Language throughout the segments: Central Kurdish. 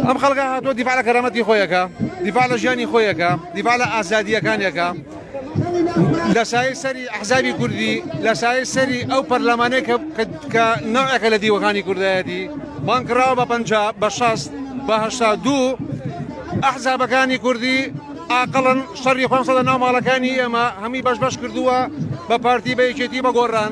ئەم خەڵکە هاتووە دیفاع لە کەرامەتی خۆی ئەکا، دیفاع لە ژیانی خۆی ئەکا، دیفاع لە ئازادییەکانی ئەکا. لە سایەی سەری ئەحزابی کوردی، لە سایەی سەری ئەو پەرلەمانەی کە کە کە نەوعێکە لە دیوەخانی کوردایەتی، بانگ کراوە بە پەنجا، بە شەست، بە هەشتا و دوو. ئەحزابەکانی کوردی ئاقڵن، شەڕی خۆیان خستۆتە ناو ماڵەکانی ئێمە، هەمووی بەش بەش کردووە بە پارتی، بە یەکێتی، بە گۆڕان.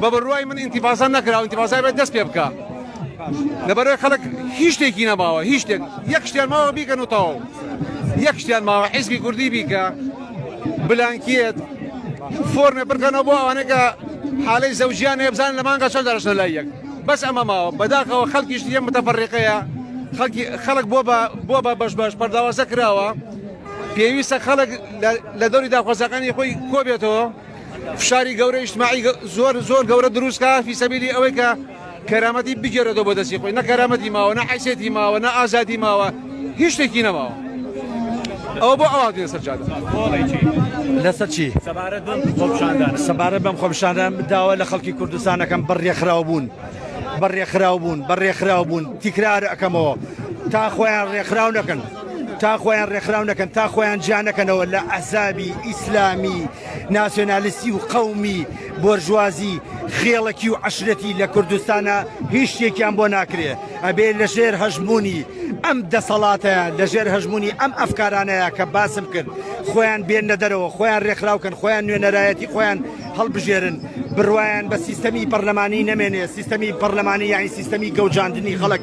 بە بڕوای من ئینتیفازا نەکرا و ئینتیفازای بێت دەست پێ بکە لەبەرەوەی خەڵک هیچ شتێکی نەماوە هیچ شتێک یەک شتیان ماوە بیکەن و تەواو یەک شتیان ماوە حیزبی کوردی بیکە بلانکیت فۆرمێ بکەنەوە بۆ ئەوانەکە حالەی زەوجیان هێبزان لە مانگە چەند دەرشە لای یەک بەس ئەمە ماوە بەداخەوە خەڵکیش یە متەفەڕێقەیە خەڵک بۆ بۆ بە بەش بەش پەرداوازە کراوە پێویستە خەڵک لە دەوری داخوازەکانی خۆی کۆبێتەوە فشاری گەورە ئیجتماعی زۆر زۆر گەورە دروست کا فی سەبیلی ئەوەی کە کەرامەتی بگێرێتەوە بۆ دەستی خۆی نە کەرامەتی ماوە نە حیسێتی ماوە نە ئازادی ماوە هیچ شتێکی نەماوە ئەو بۆ ئەوان دێ سەر جادە لەسەر چی سەبارەت بەم خۆپشاندان سەبارەت بەم خۆپشاندان داوا لە خەڵکی کوردستانەکەم بەڕێکخراو بوون بەڕێکخراو بوون بەڕێکخراو بوون تیکرار ئەەکەمەوە تا خۆیان ڕێکخراو نەکەن تا خۆیان ڕێکخراو نەکەن، تا خۆیان جیا نەکەنەوە لە ئەحزابی ئیسلامی، ناسیۆنالیستی و قەومی، بۆرژوازی، خێڵەکی و عەشرەتی لە کوردستانا هیچ شتێکیان بۆ ناکرێ، ئەبێ لە ژێر هەژموونی ئەم دەسەڵاتەیا، لە ژێر هەژموونی ئەم ئەفکارانەیا کە باسم کرد خۆیان بێننە دەرەوە، خۆیان ڕێکخراو کەن، خۆیان نوێنەرایەتی خۆیان هەڵبژێرن، بڕوایان بە سیستەمی پەڕلەمانی نەمێنێ، سیستەمی پەڕلەمانی یانی سیستەمی گەوجاندنی خەڵک،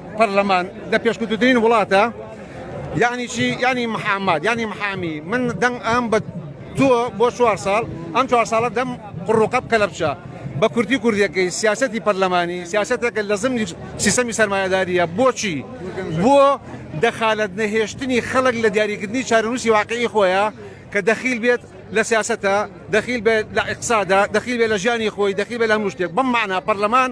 پەرلەمان لە پێشکوتترین وڵاتە یعنی چی یعنی محامات یعنی محامی من دەنگ ئەم بە تۆ بۆ چوار ساڵ ئەم چوار ساڵە دەم قڕوقەب کە لە بچە بە کوردی کوردیەکەی سیاستی پەرلەمانی سیاستێکە لە زمنی سیستەمی سەرمایهداریە بۆچی بۆ دەخالت نەهێشتنی خەڵک لە دیاریکردنی چارەنووسی واقعی خۆیە کە دەخیل بێت لە سیاستە دەخیل بێت لە اقتصادا دەخیل بێت لە ژیانی خۆی دەخیل بێت لە هەموو شتێک بەم معنا پەرلەمان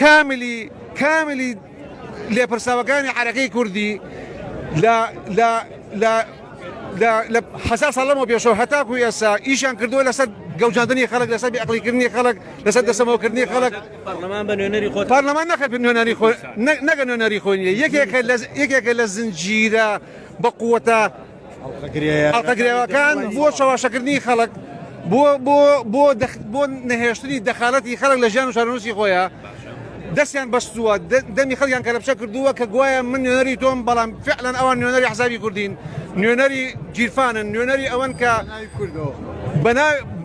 کاملی کاملی لێپرساوەکانی عەرەکەی کوردی لە لە لە لە لە حەزار ساڵ لەمەوە پێشەوە هەتاکو ئێسا ئیشان کردووە لەسەر گەوجاندنی خەڵک لەسەر بێعقلیکردنی خەڵک لەسەر دەسەمەوەکردنی خەڵک پەرلەمان بە نوێنەری خۆت پەرلەمان نەخێت بە نوێنەری خۆ نە- نەگە نوێنەری خۆ نیە یەکێکە لە یەکێکە لە زنجیرە بە قووەتە ئەڵقەگرەوەکان بۆ چەواشەکردنی خەڵک بۆ نەهێشتنی دەخالەتی خەڵک لە ژیان و چارەنووسی خۆیە دەستیان بەستووە دەمی خەڵیان کەلەپچە کردووە کە گوایە من نوێنەری تۆم بەڵام فعلەن ئەوان نوێنەری حزابی کوردین نوێنەری گیرفانن نوێنەری ئەوەن کە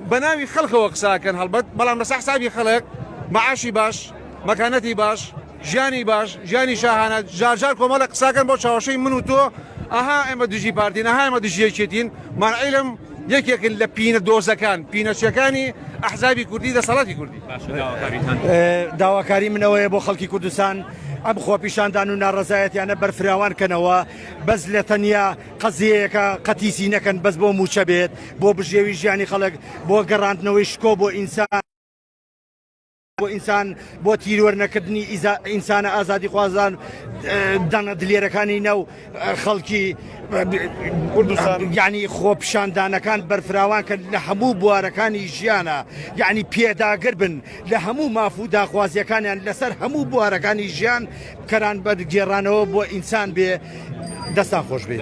بە ناوی خەڵکەوە قساکەن هەڵبەت بەڵام لەسە حسابی خەڵک معاشی باش مەکانەتی باش ژیانی باش ژیانی شاهانە جار جار کۆمەڵە قساکەن بۆ چاوەشەی من و تۆ ئەها ئێمە دژی پارتین ئەها ئێمە دژی یەکێتین من عیلم یەکێکن لە پینە دۆزەکان پینەچەکانی ئەحزابی کوردی دەسەڵاتی کوردی داواکاری منەوەیە بۆ خەڵکی کوردستان ئەم خۆپیشاندان و ناڕزایەتیانە بەرفراوان کەنەوە بەس لە تەنیا قەزیەکە قەتیسی نەکەن بەس بۆ موچە بێت بۆ بژێوی ژیانی خەڵک بۆ گەڕاندنەوەی شکۆ بۆ ئینسان بۆ ئینسان بۆ تیرۆر نەکردنی ئینسانە ئازادی خوازان دەنە دلێرەکانی ناو خەڵکی گیانی خۆپشاندانەکان بەرفراوان کرد لە هەموو بوارەکانی ژیانە یعنی پێداگر بن لە هەموو ماف و داخوازیەکانیان لەسەر هەموو بوارەکانی ژیان کەران بەرگێڕانەوە بۆ ئینسان بێ دەستان خۆش بێت.